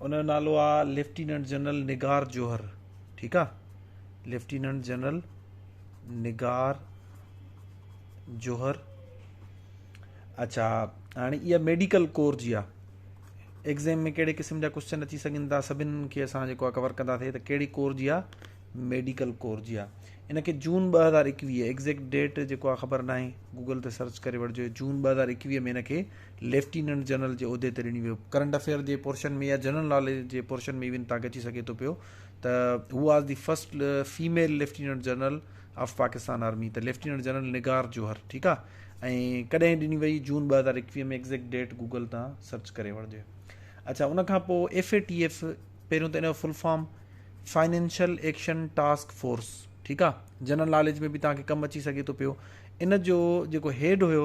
ان جو نالو آ ليفٽيننٽ جنرل نگار جوهر ٺيڪ آ ليفٽيننٽ جنرل نگار جوهر اچھا هاڻي اها ميڊيڪل ڪور جي آ ایگزام ۾ ڪهڙي قسم جا ڪوشچن اچي سگهن ٿا سڀن کي اسان جيڪو آ ڪور ڪندا ٿي ته ڪهڙي ڪور جي آ ميڊيڪل ڪور جي آ ان کي جون ٻه هزار ايڪويهه ايگزيڪٽ ڊيٽ جيڪو آ خبر ناهي گوگل تي سرچ ڪري وٺجو جون ٻه هزار ايڪويهه ۾ ان کي ليفٽيننٽ جنرل جي عهدي تي رڻي ويو. ڪرنٽ افيئر جي پورشن ۾ يا جنرل ناليج جي پورشن ۾ ايون تانڪ اچي سگهي ٿو پيو ته who was the first female lieutenant general of Pakistan army ته ليفٽيننٽ جنرل نگار جوهر ٺيڪ آ ۽ ڪڏهن ڏني وئي جون ٻه هزار ايڪويهه ۾ ايگزيڪٽ ڊيٽ گوگل تان سرچ ڪري وٺجي اڇا ان کان پوء ايف اي ٽي ايف پهريون ته ان جو full form Financial Action Task Force ٺيڪ آ جنرل ناليج ۾ به تانکي ڪم اچي سگهي ٿو پيو ان جو جيڪو هيڊ هيو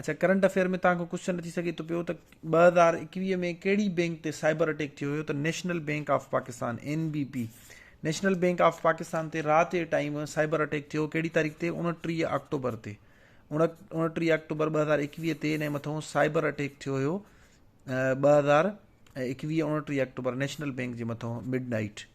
اڇا ڪرنٽ افيئر ۾ توهان کان ڪوشچن اچي سگهي ٿو پيو ته ٻه هزار ايڪويهه ۾ ڪهڙي بينڪ تي سائبر اٽيڪ ٿيو هيو ته National Bank of Pakistan N B P National Bank of Pakistan تي رات جي ٽائيم سائبر اٽيڪ ٿيو ڪهڙي تاريخ تي اڻٽيهه آڪٽوبر تي اڻٽيهه آڪٽوبر ٻه هزار ايڪويهه تي ان مٿو سائبر اٽيڪ ٿيو هيو ٻه هزار ايڪويهه اڻٽيهه آڪٽوبر نيشنل بينڪ جي مٿو مڊ نائٽ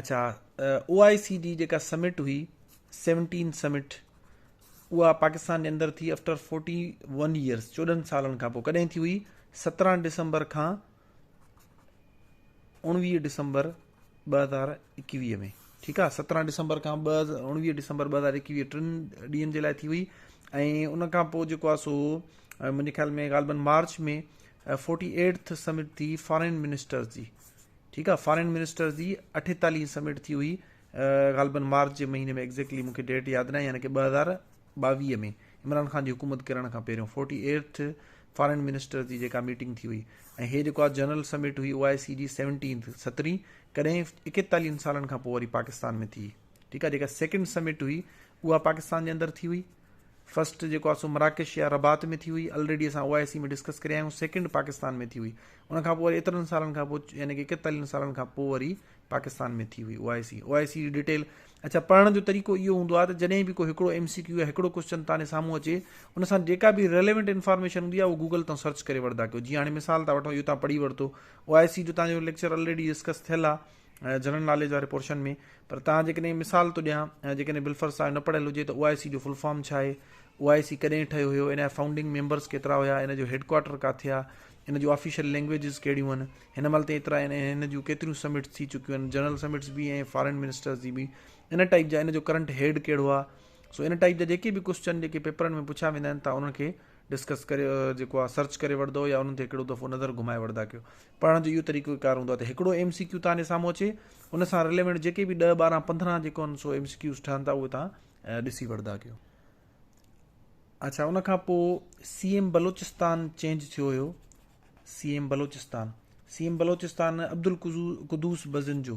اڇا او آء سي ڊي جيڪا سمٽ هئي سيونٽين سمٽ اها پاڪستان جي اندر ٿي آفٽر فورٽي ون ايئرس چوڏهن سالن کان پوء ڪڏهن ٿي هئي سترهن ڊسمبر کان اڻويهه ڊسمبر ٻه هزار اڪويهه ۾ ٺيڪ آ سترهن ڊسمبر کان ٻ اڻويهه ڊسمبر ب هزار اڪويهه ٽن ڏينهن جي لاء ٿي هئي ۽ ان کان پوء جيڪو سو منهنجي خيال ۾ غالبن مارچ ۾ فورٽي ايٽ سمٽ ٿي فارن منسٽرس جي ٺيڪ آ فارين منسٽرز جي اٺيتاليهين هين سمٽ ٿي هئي غالبن مارچ جي مهيني ۾ ايگزيڪٽلي مونکي ڊيٽ ياد ناهي يعني ڪي ٻه هزار ٻاويهه ۾ عمران خان جي حڪومت ڪرڻ کان پهريون فورٽي ايرٿ فارين منسٽرز جي جيڪا ميٽنگ ٿي هئي ۽ هي جيڪو آ جنرل سمٽ هئي او آء سي جي سيونٽينٿ سترين ڪڏهن ايڪيتاليهن سالن کان پوء وري پاڪستان ۾ ٿي ٺيڪ آ جيڪا سيڪنڊ سمٽ هئي اها پاڪستان جي اندر ٿي هئي فرسٽ جيڪو آهي سو مراڪش يا رباط ۾ ٿي هئي الريڊي اسان او آء سي ۾ ڊسڪس ڪري آيا آهيون سيڪنڊ پاڪستان ۾ ٿي هئي ان کان پوء وري ايترن سالن کان پوء يعني ڪي ڪيتالين سالن کان پوء وري پاڪستان ۾ ٿي هئي O I C O I سي جي ڊيٽيل اچھا پڙهڻ جو طريقو اهو هوندو آهي ته جڏهن به ڪو هڪڙو ايم سي ڪيو يا هڪڙو ڪوشچن تاني سامهون اچي ان سان جيڪا به ريليونٽ انفارميشن هوندي آهي اهو گوگل تان سرچ ڪري وٺندا ڪيو جيئن هاڻي مثال ٿا وٺو اهو تان پڙهي ورتو او آء سي جو تان جو ليڪچر الريڊي ڊسڪس ٿيل آهي جنرل ناليج واري پورشن ۾ پر تان جيڪڏهن مثال ٿو ڏيان ۽ جيڪڏهن بلفر صاحب نه پڙهيل هجي ته او آء سي جو فل فارم ڇا آهي او آء سي ڪڏهن ٺهيو هيو ان جا فائونڊنگ ميمبرس ڪيترا هيا ان جو هيڊ ڪوارٽر ڪاٿي آ ان جو آفيشل لينگويجز ڪهڙيون هن هن مهل تي ايترا ان هن جو ڪيتريون سمٽس ٿي چڪيون هن جنرل سمٽس به ۽ فارن منسٽرز جي به ان ٽائپ جا ان جو ڪرنٽ هيڊ ڪهڙو آ سو ان ٽائپ جا جيڪي به ڪوسچن جيڪي پيپرن ۾ پڇا ويندا آهن ته انهن کي ڊسڪس ڪري جيڪو آ سرچ ڪري وٺدؤ يا انهن تي هڪڙو دفعو نظر گهمائي وٺدا ڪيو پڙهڻ جو اهو طريقو ڪار هوندو آ ته هڪڙو ايم سي ڪيو تهانجي سامهون اچي ان سان رليونٽ جيڪي به 10 12 15 جيڪو ان سو ايم سي ڪيوز ٺهن ٿا اهي تهان ڏسي وٺدا ڪيو اچھا ان کان پو سي ايم بلوچستان چينج ٿيو هيو C M Balochistan C M Balochistan Abdul Quddus Bizenjo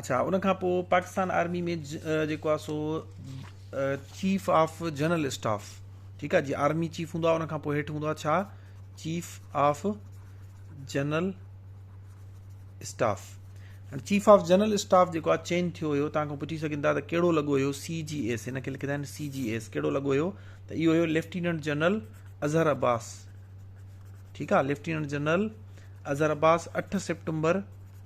اڇا ان کان پوء پاڪستان آرمي ۾ جيڪو آ سو چيف آف جنرل اسٽاف ٺيڪ آ جي آرمي چيف هوندو آ ان کان پوء هيٺ هوندو آ ڇا چيف آف جنرل اسٽاف هاڻي چيف آف جنرل اسٽاف جيڪو آ چينج ٿيو هيو تان کان پڇي سگهن ٿا ته ڪهڙو لڳو هيو سي جي ايس هن کي لکندا آهن سي جي ايس ڪهڙو لڳو هيو ته اهو هيو ليفٽيننٽ جنرل اظهر عباس ٺيڪ آ ليفٽيننٽ جنرل اظهر عباس اٺ سيپٽمبر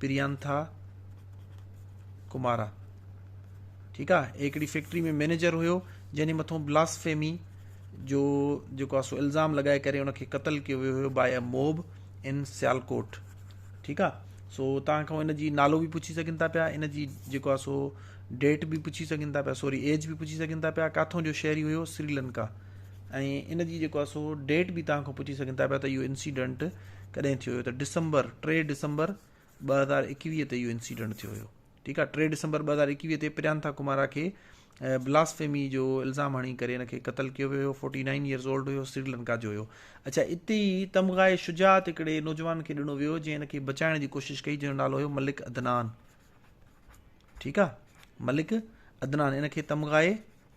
پريانٿا ڪمارا ٺيڪ آ هڪڙي فيڪٽري ۾ مينيجر هيو جنهن جي مٿو بلاسفيمي جو جيڪو سو الزام لگائي ڪري ان کي قتل ڪيو ويو هيو باي موب ان سيالڪوٽ ٺيڪ آ سو تان کان ان جي نالو به پڇي سگهن ٿا پيا ان جي جيڪو آ سو ڊيٽ به پڇي سگهن ٿا پيا سوري ايج به پڇي سگهن ٿا پيا ڪاٿو جو شهري هيو سريلنڪا ۽ ان جي جيڪو آ سو ڊيٽ به تان کان پڇي سگهن ٿا پيا ته اهو انسيڊنٽ ڪڏهن ٿيو هيو ته ڊسمبر ٽي ڊسمبر ٻه هزار ايڪويهه تي اهو انسيڊنٽ ٿيو هيو ٺيڪ آهي ٽي ڊسمبر ٻه هزار ايڪويهه تي پريانٿا ڪمارا کي بلاس فيمي جو الزام هڻي ڪري هن کي قتل ڪيو ويو هيو فورٽي نائن ايئرس اولڊ هيو سريلنڪا جو هيو اچھا اتي ئي تمغائي شجاعت هڪڙي نوجوان کي ڏنو ويو جنهن هن کي بچائڻ جي ڪوشش ڪئي جنهن جو نالو هيو ملڪ عدنان ٺيڪ آهي ملڪ عدنان ان کي تمغائي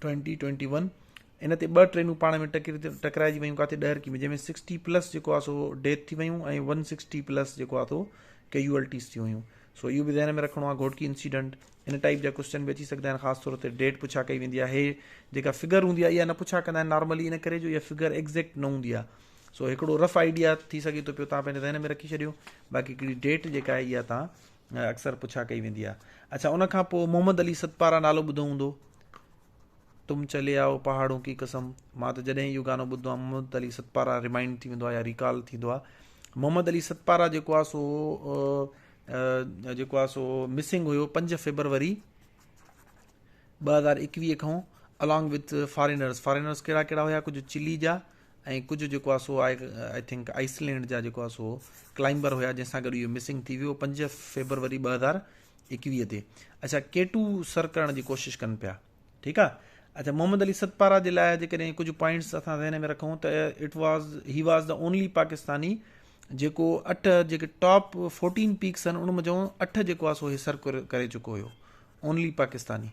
ٽوئنٽي ٽوئنٽي ون ان تي ٻه ٽرينون پاڻ ۾ ٽڪرائجي ويون ڪاٿي ڏهرڪي ۾ جنهن ۾ سڪسٽي پلس جيڪو آ سو ڊيٿ ٿي ويون ۽ ون سڪسٽي پلس جيڪو آ سو ڪيجوئلٽيز ٿيون هيون سو اهو به ذهن ۾ رکڻو آ گهوٽڪي انسيڊنٽ ان ٽائپ جا ڪوشچن به اچي سگهندا آهن خاص طور تي ڊيٽ پڇا ڪئي ويندي آهي جيڪا فگر هوندي آهي اها نه پڇا ڪندا آهن نارملي ان ڪري جو اها فگر ايگزيڪٽ نه هوندي آهي سو هڪڙو رف آئيڊيا ٿي سگهي ٿو پيو تان پنهنجي ذهن ۾ رکي ڇڏيو باقي هڪڙي ڊيٽ جيڪا آهي اها تان اڪثر پڇا ڪئي ويندي آ. اڇا ان کان پوء محمد علي ستپارا نالو ٻڌو هوندو. تم چلي آئو پهاڙون ڪي قسم مان ته جڏهن اهو گانو ٻڌندو آهيان محمد علي ستپارا ريمائنڊ ٿي ويندو آهي يا ريڪال ٿيندو آهي محمد علي ستپارا جيڪو آهي سو جيڪو آهي سو مسنگ هيو پنج فيبروري ٻه هزار اڪويهه کان الانگ وٿ فارينرس فارينرس ڪهڙا ڪهڙا هيا ڪجهه چلي جا ۽ ڪجهه جيڪو آهي سو آء ٿنڪ آئس لينڊ جا جيڪو آهي سو ڪلائمبر هيا جنهن سان گڏ اهو مسنگ ٿي ويو پنج فيبروري ٻه هزار ايڪويهه تي اچا ڪي ٽو سر ڪرڻ جي ڪوشش ڪن پيا ٺيڪ آ اچھا محمد علي ستپارا جي لاء جيڪڏهن ڪجهه پوائنٽس اسان ذهن ۾ رکون ته it was he was the only Pakistani جيڪو اٺ جيڪي ٽاپ فورٽين پيڪس آهن ان منجھو اٺ جيڪو آهي سو هي سر ڪري چڪو هيو اونلي پاڪستاني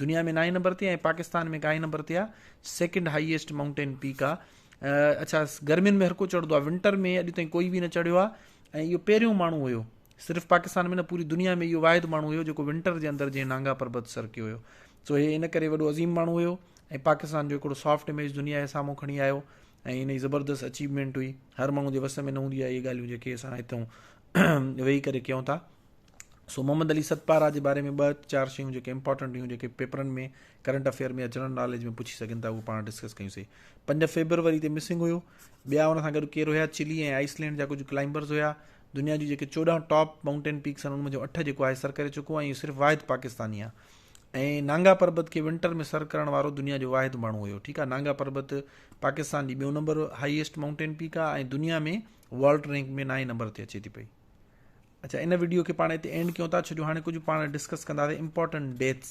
دنيا ۾ نائين نمبر تي ۽ پاڪستان ۾ ڪائين نمبر تي آ سيڪنڊ هائيسٽ مائونٽين پيڪ آ اڇا گرمين ۾ هر ڪو چڙهندو آ ونٽر ۾ اڄ تائين ڪوئي به نه چڙهيو آ ۽ اهو پهريون ماڻهو هيو صرف پاڪستان ۾ نه پوري دنيا ۾ اهو واحد ماڻهو هيو جيڪو ونٽر جي اندر جنهن نانگا پربت سر ڪيو هيو سو هي ان ڪري وڏو عظيم ماڻهو هيو ۽ پاڪستان جو هڪڙو سافٽ اميج دنيا جي سامهون کڻي آيو ۽ ان جي زبردست اچيومينٽ هئي هر ماڻهو جي وس ۾ نه هوندي آ اهي ڳالهيون جيڪي اسان هتون ويهي ڪري ڪيون ٿا سو محمد علي ستپارا جي باري ۾ ٻه چار شيون جيڪي امپورٽنٽ هيون جيڪي پيپرن ۾ ڪرنٽ افيئر ۾ يا جنرل ناليج ۾ پڇي سگهن ٿا اهو پاڻ ڊسڪس ڪيون سي پنج فيبروري تي مسنگ هيو ٻيا ان سان گڏ ڪير هيا چلي ۽ آئس لينڊ جا ڪجهه ڪلائمبرز هيا دنيا جون جيڪي چوڏهن ٽاپ ماؤنٽين پيڪس آهن ان منجهو اٺ جيڪو آهي سر ڪري چڪو ۽ صرف واحد پاڪستاني آهي ۽ نانگا پربت کي ونٽر ۾ سر ڪرڻ وارو دنيا جو واحد ماڻهو هيو ٺيڪ آهي نانگا پربت پاڪستان جي ٻيو نمبر هائيسٽ ماؤنٽين پيڪ آهي ۽ دنيا ۾ ورلڊ رينڪ ۾ نائين نمبر تي اچي ٿي پئي اچا ان وڊيو کي پاڻ اتي اينڊ ڪيون ٿا ڇو جو هاڻي ڪجهه پاڻ ڊسڪس ڪنداسين امپورٽنٽ ڊيٿس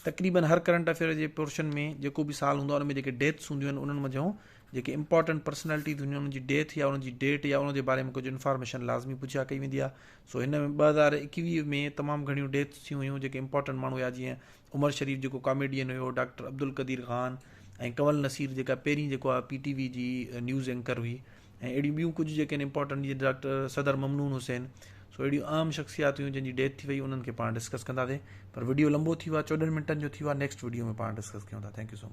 تقريبن هر ڪرنٽ افيئر جي پورشن ۾ جيڪو به سال هوندو آهي ان ۾ جيڪي ڊيٿس هونديون آهن انهن منجهو جيڪي امپورٽنٽ پرسنالٽيز هونديون آهن انهن جي ڊيٿ يا انهن جي ڊيٽ يا ان جي باري ۾ ڪجهه انفارميشن لازمي پڇا ڪئي ويندي آهي سو هن ۾ ٻه هزار ايڪويهه ۾ تمام گهڻيون ڊيٿس ٿيون هيون جيڪي امپورٽنٽ ماڻهو هيا جيئن عمر شريف جيڪو ڪاميڊين هيو ڊاڪٽر عبدالقدير خان ۽ ڪنول نصير جيڪا پهرين جيڪو آهي پي ٽي وي جي نيوز اينڪر هئي ۽ اهڙيون ٻيون ڪجهه جيڪي آهن امپورٽنٽ جيئن ڊاڪٽر صدر ممنون حسين سو اهڙيون عام شخصيات هيون جن جي ڊيٿ ٿي وئي انهن کي پاڻ ڊسڪس ڪنداسين پر ويڊيو لمبو ٿي ويو چوڏهن منٽن جو ٿي ويو نيڪسٽ ويڊيو ۾ پاڻ ڊسڪس ڪيون ٿا ٿينڪ يو سو مچ